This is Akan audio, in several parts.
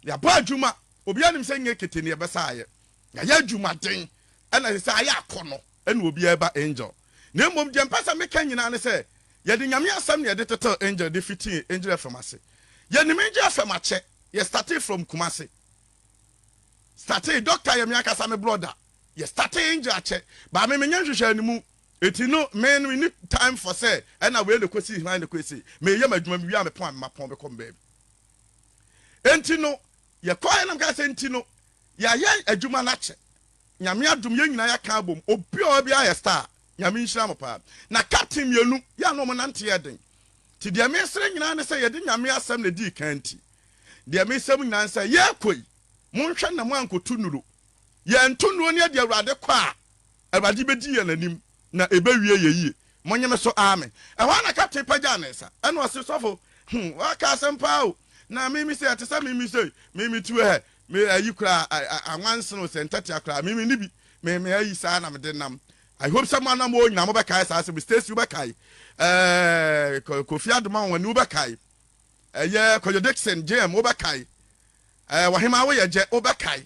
Yɛabɔ adwuma, obiara nim sɛ nyɛ kete ne yɛbɛsa ayɛ. Yɛayɛ adwumaden, ɛna ɛsɛ sɛ ayɛ akɔnnɔ ɛna obiara ɛba Angel. Na mmom deɛ mpɛ sɛ meka nyinaa ne sɛ, yɛde Nyame asɛm na yɛde tetew Angel de fitii Angel FM ase. Yɛnim Angel FM akyɛ, yɛ startee from Kumasi. Startee, Doctor yɛ me ankasa me brɔda. Yɛ startee Angel akyɛ, but me menyɛ nhwehwɛɛ no mu. Eti no, me no menni time for sɛ ɛna wei na ɛkɔsii he na ɛkɔɛ sei. Meyɛ m'adwuma, mewie a mepɔn a mepɔn mekɔ me baabi. Enti no, yɛkɔeɛ na mekaa sɛ, enti no, yɛayɛ adwuma no akyɛ. Nyame adom, yɛn nyinaa yɛaka abom. Obiara biara yɛ star. Nyame nhyira mo paa. Na captain mmienu, yɛn a na wɔn nante yɛ den. Nti deɛ mesrɛ nyinaa ne sɛ yɛde Nyame asɛm na ɛdii kan nti, deɛ mesrɛ mo nyinaa ne sɛ, yɛrekɔ yi, monhwɛ na moankɔtu nnuro. Yɛantu nnuro ne yɛde Awurade kɔ a, Awurade bedi yɛn anim, na ebewie yɛ yie. Monye me so amen. Ɛhɔ ara na kapten pagyaa ne nsa, ɛnna ɔse, Sɔfo, hmm, woaka asɛm paa o! Na me me se, ɛte sɛ me me se, me me tuo hɛ, me ayi koraa, a, a, anwansen o, sɛ ntɛtea koraa, me me nni bi, me me ayi saa na mede nam. I hope sɛ mo anamoo nyinaa mobɛkae saa asɛm yi. Stacy, wobɛkae. Ɛɛ, Ko- Kofi Adoma Wɔne, wobɛkae. Ɛyɛ Kwadwo Dixon, JM, wobɛkae. Ɛɛ, Ɔhemaa Woyɛ Gyɛ, wobɛkae.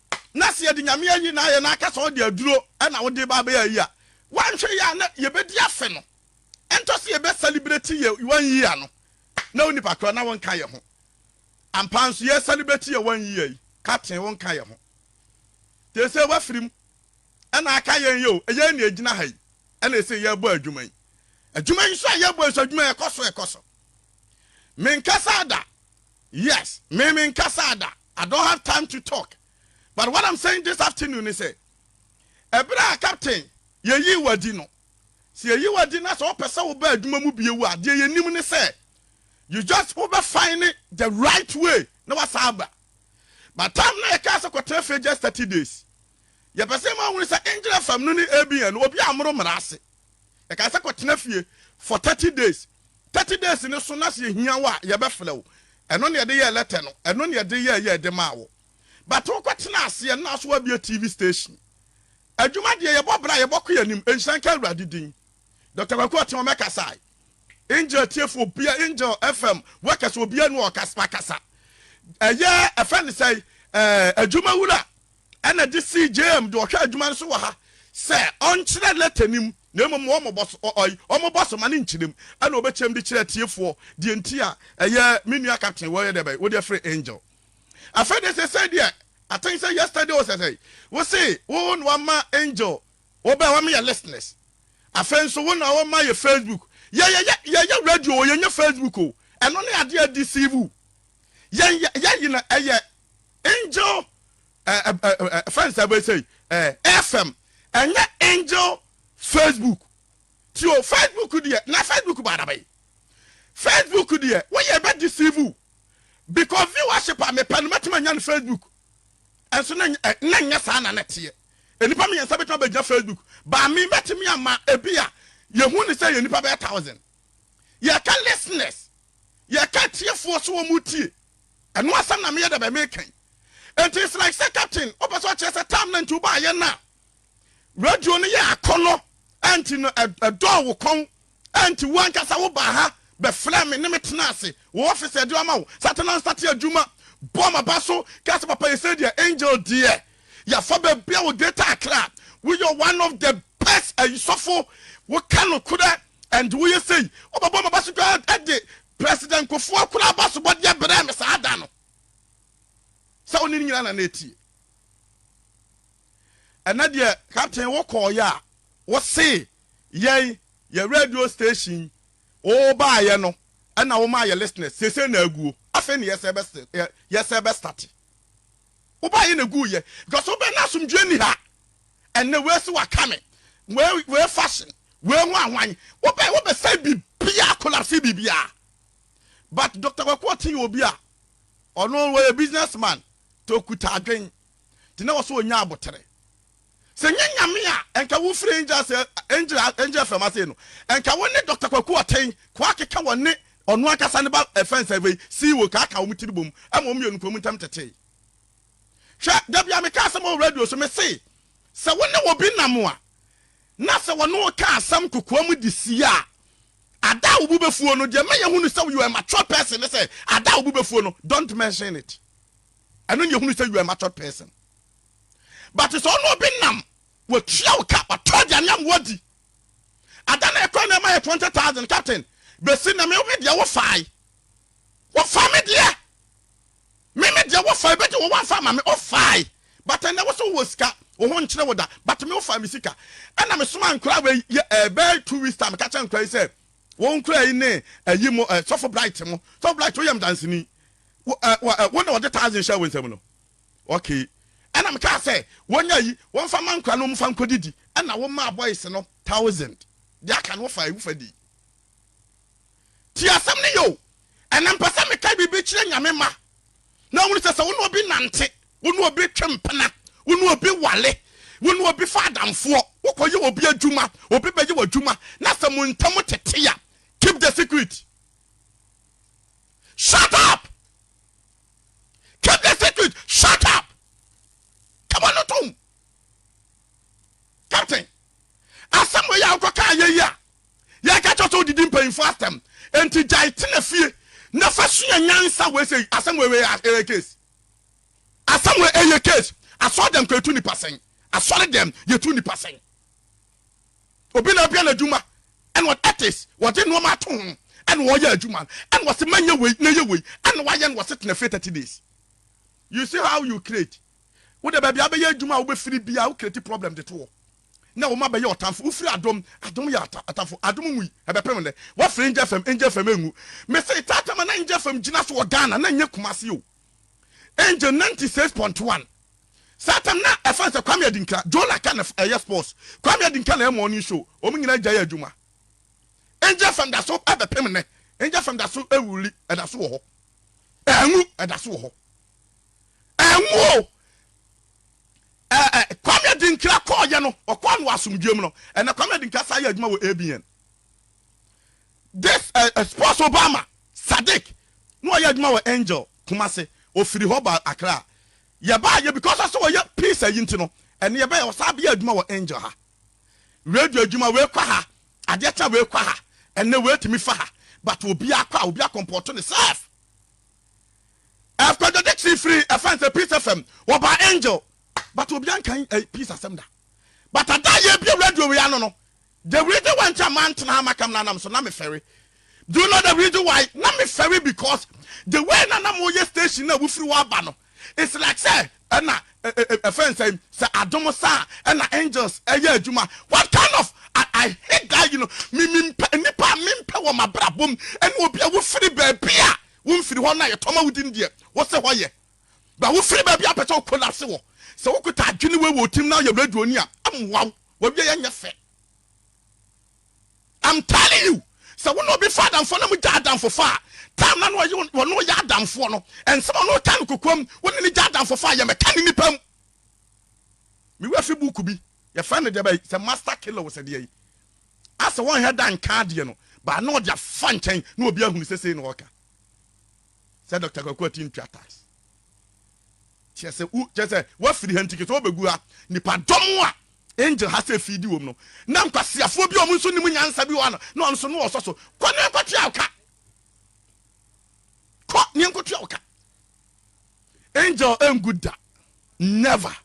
na sɛ yɛde Nyame ayi na ayɛ na aka sɛ ɔde aduro na wode ba abɛyɛ ayi a, woanhwɛ yie a na yɛbɛdi afe no, ɛntɔ sɛ yɛbɛ celebrate yɛ one year no, na wo nipa korɔ na wonka yɛ ho. Ampa nso yɛ celebrate yɛ one year yi, Captain wonka yɛ ho. Te sɛ wafiri mu ɛna aka yɛn yɛ o, ɛyɛn na ɛgyina ha yi ɛna ɛsɛ yɛbɔ adwuma yi. Adwuma yi nso a yɛbɔ yi nso adwuma yi ɛkɔ so ɛkɔ so. Menkasaa da. Yes me me nkasaa da I don't have time to talk but what I'm saying this afternoon ne sɛ ɛberɛ a captain yɛyii wo adi no sɛ yɛyi wo adi na sɛ wo pɛ sɛ wo ba adwuma mu bio a deɛ yɛnim ne sɛ you just wo bɛ fine the right way na wasan aba but time na yɛkaa sɛ kɔtena fie just 30 days yɛpɛ sɛ ma wo hunu sɛ Engine FM no ne ABN no obi ammoro mmara ase. Yɛkae sɛ kɔtena fie for thirty days. Thirty days no so na sɛ yɛhia wo a yɛbɛfrɛ wo. Ɛno na yɛde yɛɛ lɛtɛ no. Ɛno na yɛde yɛɛ yɛɛ de maa wo. But wokɔtenaa ase a na so woabue TV station. Adwuma deɛ yɛbɔ bra a yɛbɔkɔ yɛn anim. Nhyira nka Awurade din. Doctor Kwaku Ɔteɔm ɛkasae. Angel tiefo obia Angel FM workers obia ni ɔkasa wakasa. Ɛyɛ ɛfɛ ne sɛe ɛɛ adwuma wura. ɛna de sii JM de ɔhwɛ adwuma no so wɔ ha sɛ ɔnkyerɛ lɛtɛ no mu na mmom wɔmmobɔ so, ɔ, ɔy, ɔmmobɔ so ma no nkyerɛ mu, ɛna ɔbɛkyerɛ mu de kyerɛ atiefoɔ deɛ nti a ɛyɛ me nua Captain wɔyɛ dɛ bɛn, wode afiri Angel. Afei deɛ seesei deɛ, I think sɛ yesterday o sɛsɛi, wo se wo na wama Angel, wɔbɛɛ wɔma yɛ listeners, afei nso wo na wɔma yɛ Facebook, yɛ, yɛyɛ, yɛyɛ radio o, yɛnyɛ Facebook o, ɛno ne adeɛ a ɛdeceive wo yɛn, yɛ, yɛn yɛ na ɛyɛ. Angel eh, eh, eh, eh, friends ebe say eh, FM ɛnyɛ angel Facebook ti o Facebook deɛ na Facebook ba adaba yi Facebook deɛ woyɛ bɛ deceive o because viewership a mepɛ no mɛtumi anya no Facebook ɛnso na eh, na nyɛ saa na na teɛ nnipa mmiɛnsa bɛtumi abɛgyina Facebook baa me mɛtumi ama ebi a yɛhu ne sɛ yɛ nnipa bɛyɛ thousand yɛka listeners yɛka tiefoɔ so wɔn tie Ɛno asɛm na meyɛ dɛbɛn meka yi. Nti it's like sɛ captain wopɛ sɛ ɔkyerɛ sɛ time no nti wobaayɛ no a radio no yɛ akɔnnɔ nti no ɛdɔɔ wo kɔn nti wo ankasa wobaa ha bɛfrɛɛ me ne me tenaa ase wo office a ɛde ama wo sate na nsate adwuma bɔ m'aba so ka sɛ papa yɛsɛ deɛ angel deɛ yɛafa baabi a wo data akra woyɛ one of the best ayisɔfo woka nokorɛ And woyɛ sei wobɛbɔ m'abaso koraa ɛde President Kufuor koraa abasobɔdeɛ brɛɛ me saa da no sɛ ɔne ne nyinaa na na ɛtie ɛnɛ deɛ captain wokɔɔyɛ a wose yɛn yɛ radio station wobaayɛ no ɛna woma yɛ listeners sese na aguo afei ne yɛsɛ bɛstate Woba yɛ na eguu yɛ because wobɛ na asomdwoe nni ha ɛnnɛ wei se waka me wei wei fashion wei ho ahwan wobɛ wobɛ sɛe biribiaa collapse biribiaa but Doctor Kwaku Ɔten yɛ obi a ɔno wɔyɛ business man nti okuta adwen nti na wɔse ɔnya abotere Sɛ nyɛ Nyame a nka wo firi angel ase angel angel fam ase no nka wo ne Doctor Kwaku Ɔtɛn kɔ akeka wɔ ne ɔno ankasa ne ba fence a wei CEO ka aka wɔn tiri bom ma wɔn mmienu kɔ wɔn ntam tetee hwɛ da bia meka asɛm wɔ radio so me se sɛ wo ne obi nam a na sɛ wɔne wo ka asɛm kokoam de sie a ada a wo bo bɛfuo no deɛ mɛyɛ hunu sɛ you are a mature person ne sɛ ada a wo bo bɛfuo no don't mention it ɛno ne yɛhunu sɛ you are a mature person but sɛ ɔne obi nam watua wo ka watɔ aduane ama wadi ada na ɛkɔ na ɛma yɛ twenty thousand captain bɛsi na me me deɛ wo fae wo fa me deɛ me me deɛ wo fae bɛgye wo wamfa ma me wo fae but ɛnɛ wo so wɔ sika wo ho nkyerɛ wo da but me wo fa me sika ɛna me soma nkora wei yɛ ɛbɛɛ eh, two weeks time ka kyɛ nkora yi sɛ wɔn nkora yi ne ayi eh, mo eh, sɔfo bright mo sɔfo bright woyɛ mdansini wo na wɔde thousand hyɛ wo nsam no Okay. Ɛna me kaa sɛ wɔn ayi wɔn fa ma nkora no wɔn fa nkɔ didi ɛna wo maa boys no thousand deɛ aka no wo fa wo fa di tie asɛm no yɛ o ɛna mpɛ sɛ me ka biribi kyerɛ nyame ma na wɔn sɛ sɛ wo ne obi nante wo ne obi twe mpena wo ne obi wale wo ne obi fa adamfoɔ wo kɔ yɛ obi adwuma obi bɛyɛ wɔ adwuma na sɛ mo ntam tete ya keep the secret shut up keep the secret shut up kama no tom captain asɛm wei a wokɔka ayɛ yi a yɛka kyɛ sɛ wodidi mpanyimfoɔ asɛm enti gyae tena fie na fa sua nyansa wei sɛ asɛm wei wei ɛyɛ case asɛm wei ɛyɛ case asɔre dɛm kɔ yɛtu nipa sɛn asɔre dɛm yɛtu nipa sɛn obi na abia n'adwuma ɛna ɔtis wɔde nneɛma ato ho ɛna wɔyɛ adwuma no ɛna wɔsi mɛnyɛ wei na yɛ wei ɛna wɔayɛ no wɔsi tena fie thirty days you see how you create wo de baabi abɛyɛ adwuma a wobɛfiri bi a wo create problem de to hɔ na wɔn abɛyɛ ɔtamfo wofiri adom adom yɛ atamfo adom mu yi ɛbɛpem dɛ wɔfiri ngya fam ngya fam engu mese taatama na ngya fam gyina so wɔ Ghana na nyɛ kumase o Angel ninety six point one Satan na ɛfan sɛ Kwame Adinka, Joe Laka na ɛyɛ sports. Kwame Adinka na ɛyɛ morning show. Wɔn nyinaa gyae adwuma. Angel FM da so bɛpem nnɛ. Angel FM da so wuli, ɛda so wɔ hɔ. Ɛnwu, ɛda so wɔ hɔ. Ɛnwu o. Ɛɛ ɛ Kwame Adinka kɔɔyɛ no, ɔkɔɔ no asomdwoe mu no, ɛnna Kwame Adinka san yɛ adwuma wɔ ABN. This ɛ ɛ sports Obama Sadiq na ɔyɛ adwuma wɔ Angel Kumasi, ɔfiri hɔ baa Accra. Yɛbaa yɛ because ɔsɛ ɔyɛ peace ayi nti no ɛnna yɛbɛɛ ɔsan bɛyɛ adwuma wɔ Angel ha. Radio adwuma wei kɔ ha, adeɛ kye a wei kɔ ha, ɛnnɛ wei tumi fa ha but obiara kɔ a obiara kɔmpɔɔto ne self. Ɛf Kwadwo Dickson firi ɛfɛn sɛ Peace FM wɔbaa Angel but obiara nkan ɛ peace asɛm da but ada a yɛbie radio wei ano no The reason why nti a mantena ha makam no anam so na mefɛre Do you know the reason why? Na mefɛre because the way na na moyɛ station no a wofiri hɔ aba no It's like sɛ ɛna ɛ ɛ ɛ ɛfɛn sɛ sɛ adom sa a ɛna angels ɛyɛ adwuma What kind of I, I hate that you know me mempɛ nnipa a mempɛ wɔ m'abrabɔ mu ɛne obi a wofiri baabi a womfiri hɔ no a yɛtɔ ma wodi no deɛ wose hɔ yɛ Ba wofiri baabi a wopɛ sɛ wo collapse wɔ Sɛ wokota adwene wei wɔ wo tirim na woyɛ radioni a ɛmmoa wo W'awieɛ nyɛ fɛ. I'm telling you, sɛ wo ne obi fa adamfoɔ na mo gya adamfofa a, time no a na ɔye wɔne wo yɛ adamfoɔ no, nsɛm a ɔne wo ka no kokoam, wo ne no gya adamfofa a, yɛ mɛka ne nipa mu. Me wura fi book bi, yɛfrɛ no deɛbɛn, sɛ Master Killer o sɛ deɛn, asɛ wɔnhɛ da nka adeɛ no, but na ɔde afa nkyɛn na obi ahunu sɛ sei na ɔreka. Sɛ Doctor Kwaku Ati ntua tax. Kyerɛ sɛ wo kyerɛ sɛ wafiri ha nti kɛ sɛ wobɛgu ha nipadɔm a angel ha sɛ fiidi wɔm no na nkwaseafoɔ bi a wɔn nso nim nyansa bi wɔ ha no na wɔn nso no wɔsɔ so kɔ ne nkɔtua wo ka kɔ ne nkɔtua wo ka angel ɛngu da never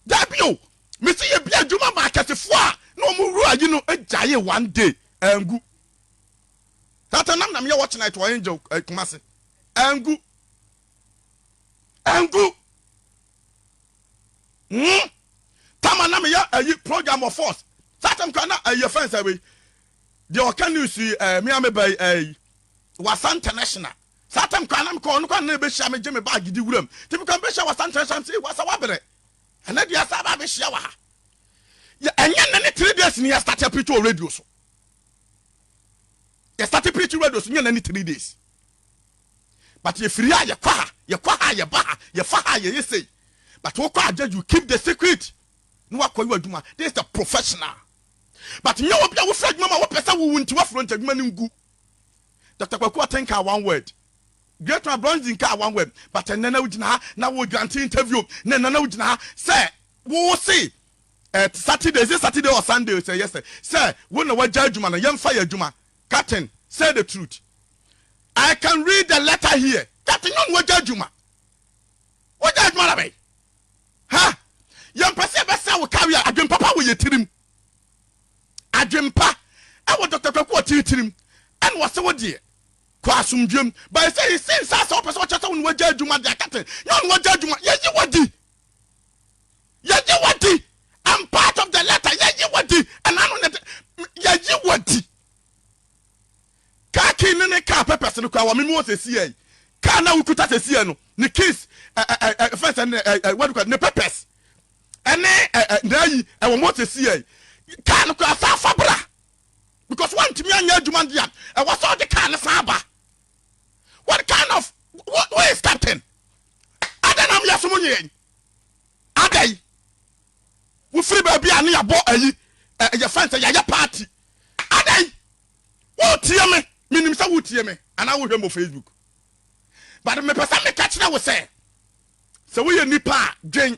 dabi o mesi yɛ bi adwuma ma akɛsefoɔ a na wɔn wura yi no gyae one day ɛngu That nam na meyɛ watch night wɔ Angel eh, Kumasi. Angu. Angu. Hmm. Tama na meyɛ ayi eh, program of force. That time kura na ayi eh, fɛn sɛ wei. Deɛ ɔka news yi eh, me a me bɛyi eh, eh, wasa international. Saa tam kwan na mekɔ ɔno kwan na ɛbɛhyia me gye me baage di wuram nti mekɔ mbɛhyia wasa nkyerɛ hyɛ sɛ wasa wabrɛ ɛnɛ deɛ asa ba bɛhyia wɔ ha ɛnyɛ nne ne three days ne yɛstarte apito radio so yɛ starte preach radio so nyɛ na ne three days but yɛ firi a yɛ kɔ ha yɛ kɔ ha yɛ ba ha yɛ fa ha yɛ yɛ sei but wo kɔ agya you keep the secret na wakɔ yɛ adwuma this is the professional but nyɛ obi a wofiri adwuma ma wopɛ sɛ wowu nti wafuro nti adwuma no ngu Dr. Kwaku Aten kaa one word Great man Bronze nkaa one word but ɛnɛ na wogyina ha na wogyina nte interview na ɛnɛ na wogyina ha sɛ wo se ɛɛ saturday is it saturday or sunday sɛ yɛ sɛ sɛ wo na wagya adwuma no yɛmfa yɛ adwuma captain say the truth i can read the letter here captain yɔn wagya adwuma wagya adwuma na bɛyi ha yɛmpɛ sɛ yɛbɛsɛ wo kawe a adwempa pa wɔ yɛ tirim adwempa ɛwɔ dɔkta kwaku wɔ titirim ɛna wɔsɛ wo deɛ kɔ asomdwam bɛyɛ sɛ yɛsɛ nsa sɛ wopɛ sɛ wɔkyɛ sɛ wo na wagya adwuma deɛ captain yɔn wagya adwuma yɛyi wadi yɛgye wadi I'm part of the letter yɛgye wadi ɛna no ne yɛgye wadi kaa kii ne ne kaa pɛpɛs no kura wɔ mimi wɔ sɛsi yɛ kaa na wokuta sɛsi yɛ no ne keys fɛn sɛ ne wɔde ne pɛpɛs ɛne n'ayi ɛwɔ mo sɛsi yɛ kaa no kura saa fabra because wɔntumi anyɛ adwuma deɛ ɛwɔ sɛ ɔde kaa no saa ba what kind of what where is captain ada nam yɛ som nyɛ ada yi wofiri baabi a ne yɛbɔ ayi yɛ fɛn sɛ yɛyɛ party ada yi wotie me menim sɛ wotie me anaa wohwɛ mbɔ facebook but mepɛ sɛ meka kyerɛ wo sɛ Sɛ woyɛ nipa a, dwen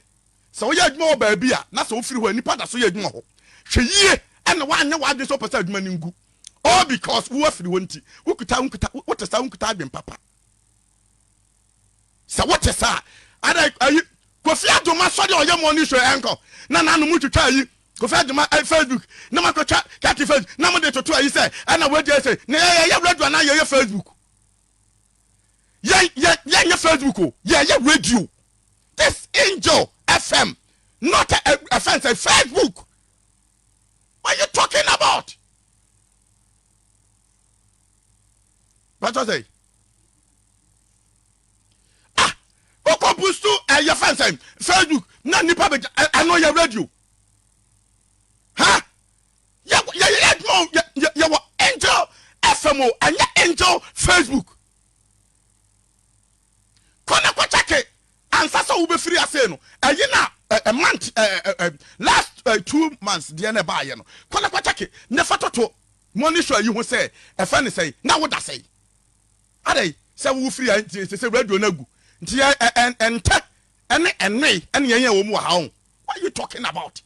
sɛ woyɛ adwuma wɔ baabi a na sɛ wofiri hɔ a, nnipa da so yɛ adwuma hɔ. Hwɛ yie na woanyɛ w'adwene sɛ wopɛ sɛ adwuma no ngu all because wo afiri hɔ nti. Wokuta wonkuta, wote saa wonkuta adwene papa. Sɛ wote saa ada ayi Kofi Adoma sɔre a ɔyɛ morning show ɛnkɔ na n'ano mu twitwa ayi Kofi Adoma eh, Facebook na makɔtwa kati Facebook na mo de toto ayi sɛ ɛna wagya sɛ na yɛyɛ radio anaa yɛyɛ Facebook. yɛ yɛ yɛ nyɛ facebook o yɛ yɛ radio this angel fm not a a fɛn sɛ facebook what you talking about bàtà sɛ ah okò busu ɛ yɛ fɛn sɛ facebook na nipa bɛ ɛno yɛ radio ha. Huh? Yɛwɔ yɛyɛ yɛ adwuma o yɛ yɛ yɛwɔ angel fm o ɛnyɛ angel facebook kɔ na kɔ kyɛke ansa sɛ wobɛfiri ase no ɛyi na ɛ month ɛ last ɛ two months deɛ na ɛbaayɛ no kɔ na kɔ kyɛke ne fa toto morning show yi ho sɛ ɛfɛ ne sɛi na woda sɛi adɛn sɛ wofiri a nti sɛ sɛ radio no agu nti ɛ ɛ ɛntɛ ɛne ɛnoe ɛne yɛn yɛn wɔ mu wɔ ha o what are you talking about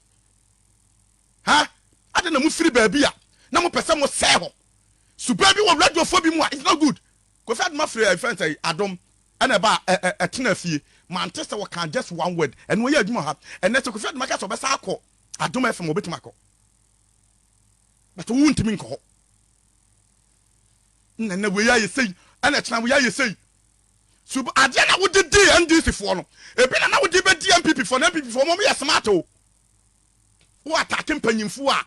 Ha! Adɛn na mofiri baabi a na mopɛ sɛ mosɛe hɔ? Suban bi wɔ radiofoɔ bi mu a it's not good. Kofi Adoma firi ɛɛ fɛn sɛ Adom ɛna ɛba a ɛ ɛ ɛtena fie. Mante sɛ wɔka just one word. Ɛno ɛyɛ adwuma ha. Ɛnɛ sɛ Kofi Adoma ka sɛ ɔbɛsan akɔ Adom FM a ɔbɛtumi akɔ. But wo ntumi nkɔ hɔ. Ɛna ɛnɛ wei ayɛ sei. Ɛna kyena wei ayɛ sei. Sub adeɛ na wode di NDC foɔ no. Ebi na na wode bɛdi NPP foɔ no. NPP foɔ mo yɛ smart o. Woatate mpanyimfo a,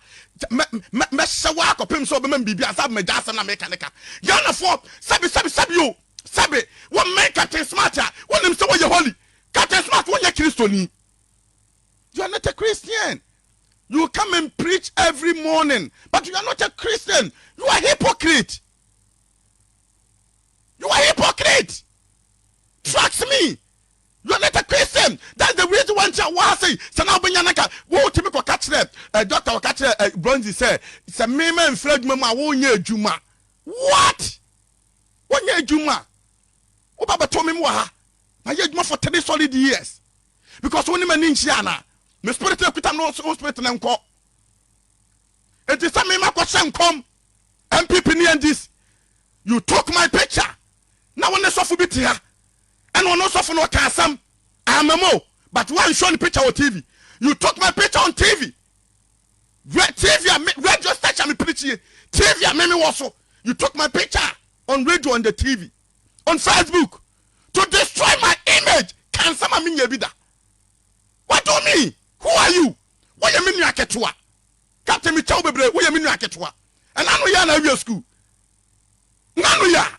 mɛ, mɛ, mɛhyɛ wo ara kɔpem sɛ wobɛma me biribi ansa magya asɛm na meka ne ka. Ghanafoɔ, sɛbe, sɛbe, sɛbe o, sɛbe, wommɛn Captain Smart a, wonim sɛ woyɛ holy. Captain Smart, wonyɛ Kristoni. You are not a Christian. You come and preach every morning, but you are not a Christian. You are hypocrite. You are hypocrite. Trust me. Yonetta Chris say that's the reason why nti a ɔwɔ ha sei, sɛ na wobɛnya no anka wotumi kɔka kyerɛ eh, doctor ɔka kyerɛ eh, Bronzy sɛ sɛ me ma mfiri adwuma mu a wonyɛ adwuma. What? Wonyɛ adwuma? Woba bɛto me wɔ ha, mayɛ adwuma for three solid years because wo ne m'ani nkyia anaa? Me spirit na kuta no wo spirit na nkɔ. Enti sɛ me ma kɔhyɛ nkɔm MPP ne NDC, you took my picture na wo ne sɔfo bi te ha Ɛna ɔno ɔsɔfo no ɔka asɛm ama mu o but wa nshow ne picture wɔ TV you took my picture on TV Re TV a me radio station a me pini kyi TV a me me wɔ so you took my picture on radio on the TV on Facebook to destroy my image ka nsɛm a me nyɛ bi da what do you mean who are you wo yɛ me nua ketewa captain me kyɛw bebree wo yɛ me nua ketewa ɛna no yɛ na awie school na no yɛ a.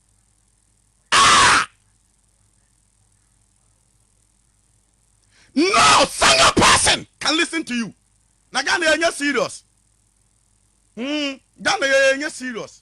Ah! No single person can listen to you. Na Ghana yɛ nyɛ serious. Hmm, Ghana yɛ yɛ nyɛ serious.